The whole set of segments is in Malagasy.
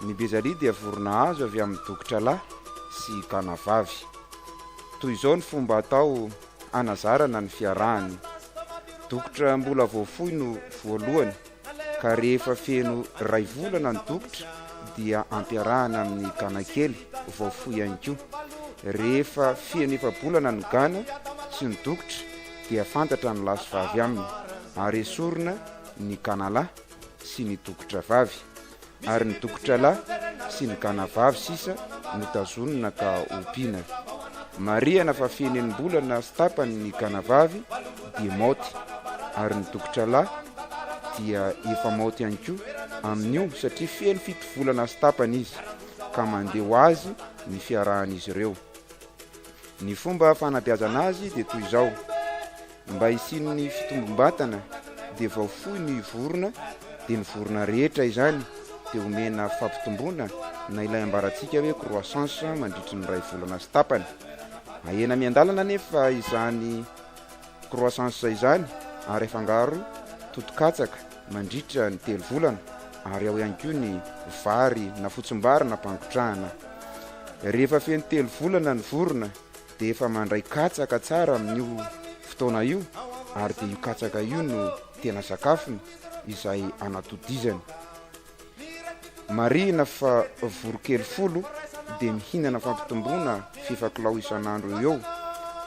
Ny Bezalia dia vorona azo avy amin'ny dokotra lahy sy tana vavy. Toy izao ny fomba atao hanazarana ny fiarahany. Dokotra mbola vao fohy no voalohany ka rehefa feno iray volana ny dokotra dia ampiarahana amin'ny gana kely vao fohy ihany koa. Rehefa feno efa-bolana ny gana sy ny dokotra dia fantatra ny lahy sy vavy aminy ary esorina ny gana lahy sy ny dokotra vavy. ary ny tokotralahy sy ny ganavavy sisa no tazonina ka ompiana. Marihana fa feno enim-bolana sy tapany ny ganavavy dia maoty ary ny tokotralahy dia efa maoty ihany koa amin'io satria feno fito volana sy tapany izy ka mandeha ho azy ny fiarahan'izy ireo. Ny fomba fanabeazana azy dia toy izao. Mba hisian'ny fitombom-batana dia vao foy ny vorona dia ny vorona rehetra izany dia omena fampitomboana na ilay ambarantsika hoe croissance mandritry ny iray volana sy tapany. Ahena miandalana anefa izany croissance izany ary afangaro totokatsaka mandritra ny telo volana ary ao ihany koa ny vary na fotsim-bary nampangotrahana. Rehefa feno telo volana ny vorona dia efa mandray katsaka tsara amin'io fotoana io ary dia io katsaka io no tena sakafony izay anatodizany. Marihina fa voronkely folo dia mihinana fampitomboana f'efa kilao isan'andro eo eo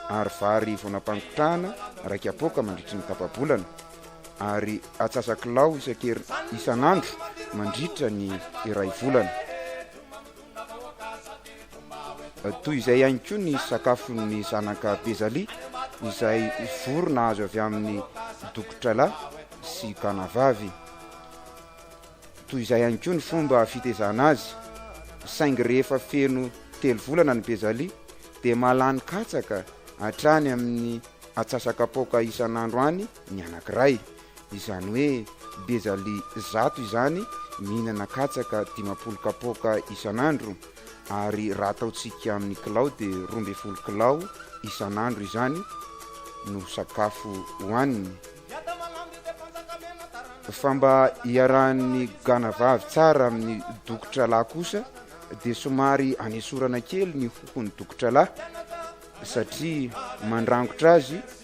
ary vary vao nampangotrahana raika apoaka mandritry ny tapa-bolana ary atsasa-kilao isan-andro mandritra ny iray volana. Toy izay ihany koa ny sakafon'ny zanaka Bezali izay vorona azo avy amin'ny dokotralahy sy ganavavy. Toy izay ihany koa ny fomba fitezana azy, saingy rehefa feno telo volana ny Bezali dia mahalany katsaka hatrany amin'ny atsasakapoaka isan'andro any ny anankiray. Izany hoe Bezali zato izany mihinana katsaka dimampolo kapoaka isan'andro, ary raha ataontsika amin'ny kilao dia roa ambin'ny folo kilao isan'andro izany no sakafo hohaniny. Fa mba hiarahan'ny ganavavy tsara amin'ny dokotralahy kosa dia somary anesorana kely ny hohon'ny dokotralahy satria mandrangotra azy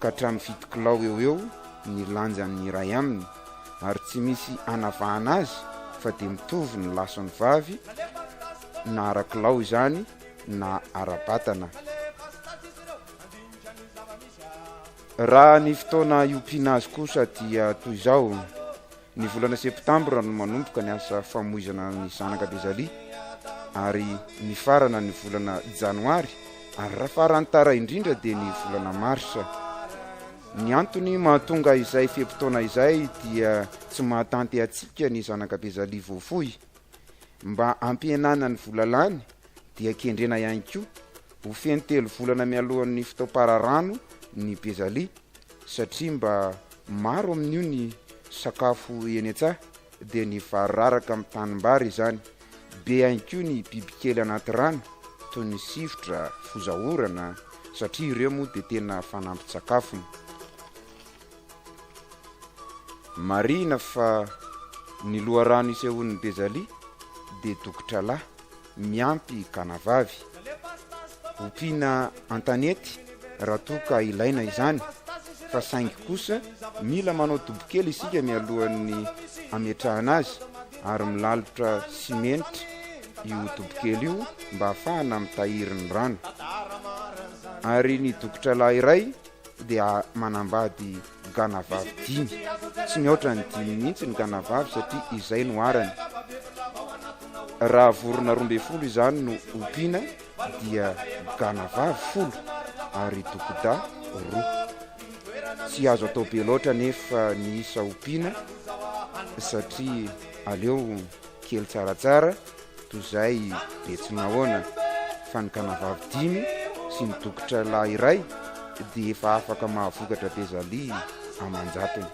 ka hatramin'ny fito kilao eo eo ny lanjan'ny iray aminy ary tsy misy anavahana azy fa dia mitovy ny lason'ny vavy na ara-kilao izany na ara-batana. Raha ny fotoana iompiana azy kosa dia toy izao, Ny volana septambra no manomboka ny asa famoizana ny zanaka des Allies ary mifarana ny volana janoary ary raha farany tara indrindra dia ny volana marsa. Ny antony mahatonga izay fe-potoana izay dia tsy mahatanty hatsiaka ny zanaka des Allies voafoy. Mba hampihenana ny vola lany dia kendrena ihany koa ho feno telo volana mialohan'ny fotoam-pararano ny Bezalia. satria mba maro amin'io ny sakafo eny an-tsaha dia ny variraraka amin'ny tanimbary izany, be ihany koa ny bibikely anaty rano toy ny sifotra, foza orana, satria ireo moa dia tena fanampin-tsakafony. Marihina fa ny loharano isehoan'i Bezali dia dokotralahy, Miampy ganavavy. Ompiana an-tanety raha toa ka ilaina izany fa saingy kosa mila manao dobo kely isika mialohan'ny hametrahana azy ary milalotra simenitra io dobo kely io mba hahafahana mitahiry ny rano. Ary ny dokotra lahy iray dia manambady ganavavy dimy. Tsy mihoatra ny dimy mihitsy ny ganavavy satria izay no arany. Raha vorona roa ambin'ny folo izany no ompiana dia ganavavy folo ary dokoda roa. Tsy azo atao be loatra nefa ny isa ompiana satria aleo kely tsaratsara Toy izay dia tsy nahoana fa ny kanavavy dimy sy ny dokotra lahy iray dia efa afaka mahavokatra bezali aman-jatony.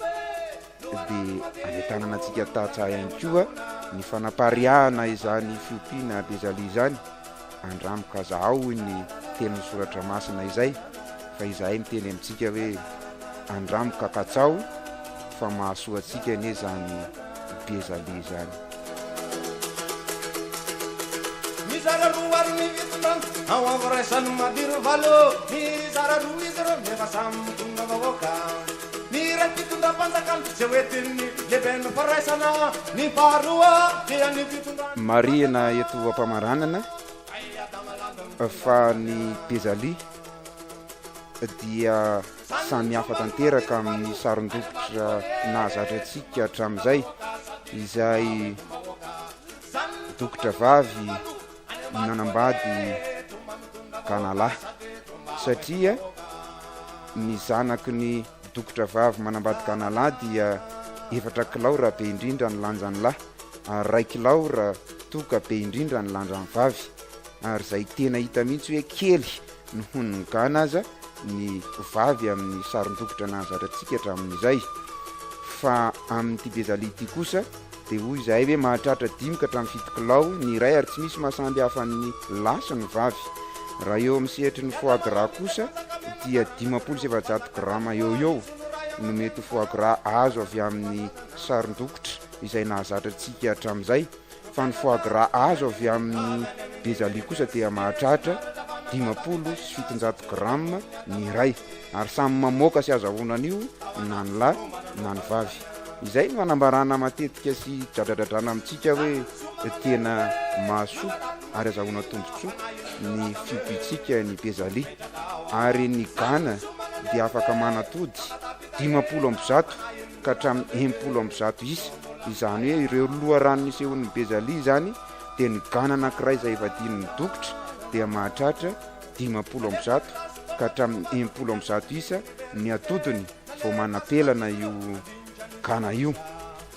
Dia ametanana antsika tatsaha ihany koa ny fanapariahana izany fiompiana bezali izany, andramo ka zahao hoy ny tenin'ny soratra masina izay, fa izahay miteny amintsika hoe andramo ka katsaho fa mahasoa antsika anie izany Bezale izany. Mizara roa ary ny fitondrana ao amin'ny firaisan'ny madiro valo Mizara roa izy ireo nefa samy mitondra vahoaka Ny iray mpitondram-panjakana izay ho entin'ny lehiben'ny firaisana Ny faharoa dia ny fitondrana Marihina eto am-pamaranana fa ny Bezale dia Samy hafa tanteraka amin'ny saron-dokotra nahazatra antsika hatramin'izay, izay dokotra vavy nanambady ganalahy, satria ny zanaky ny dokotra vavy manambady ganalahy dia efatra kilao raha be indrindra ny lanjan'ny lahy, ary iray kilao raha toa ka be indrindra ny lanjan'ny vavy, ary izay tena hita mihitsy hoe kely ny honin'i Ghana aza ny vavy amin'ny sarin-dokotra nahazatrantsika hatramin'izay. Fa amin'ity Bezali ity kosa dia hoy izahay hoe mahatratra dimy ka hatramin'ny fito kilao ny iray ary tsy misy mahasamby hafa an'ny lahy sy ny vavy. Raha eo amin'ny sehatry ny foie gras kosa dia dimampolo sy efajato grama eo ho eo no mety ho foie gras azo avy amin'ny sarin-dokotra izay nahazatrantsika hatramin'izay. fa ny foie gras azo avy amin'ny bezali kosa dia mahatratra dimampolo sy fitonjato grammes ny iray, ary samy mamoaka sy azahoana an'io na ny lahy na ny vavy. Izay no anambarana matetika sy dradradradrana amintsika hoe tena mahasoa ary azahoana tombontsoa ny fiompiantsika ny bezali. Ary ny gana dia afaka manatody dimampolo amby zato. ka hatramin'ny enimpolo amby zato isa, izany hoe ireo loharano nisehoan'ny Bezali izany dia ny gana anankiray izay vadian'ny dokotra dia mahatratra dimampolo amby zato ka hatramin'ny enimpolo amby zato isa ny atodiny vao manam-pelana io gana io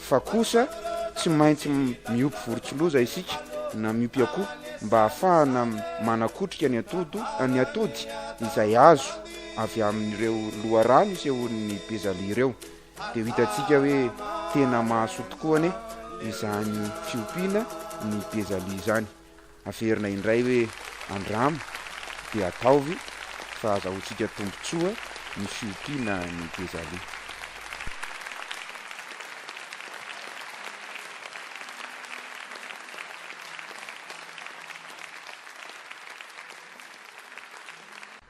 fa kosa tsy maintsy miopy vorontsiloza isika na miopy akoho mba hahafahana manakotrika ny atodo ny atody izay azo avy amin'ireo loharano isehoan'ny Bezali ireo dia ho hitantsika hoe tena mahasoa tokoa anie izany fiompiana ny Bezali izany. Averina indray hoe andramo dia ataovy fa azahoantsika tombontsoa ny fiompiana ny Bezali.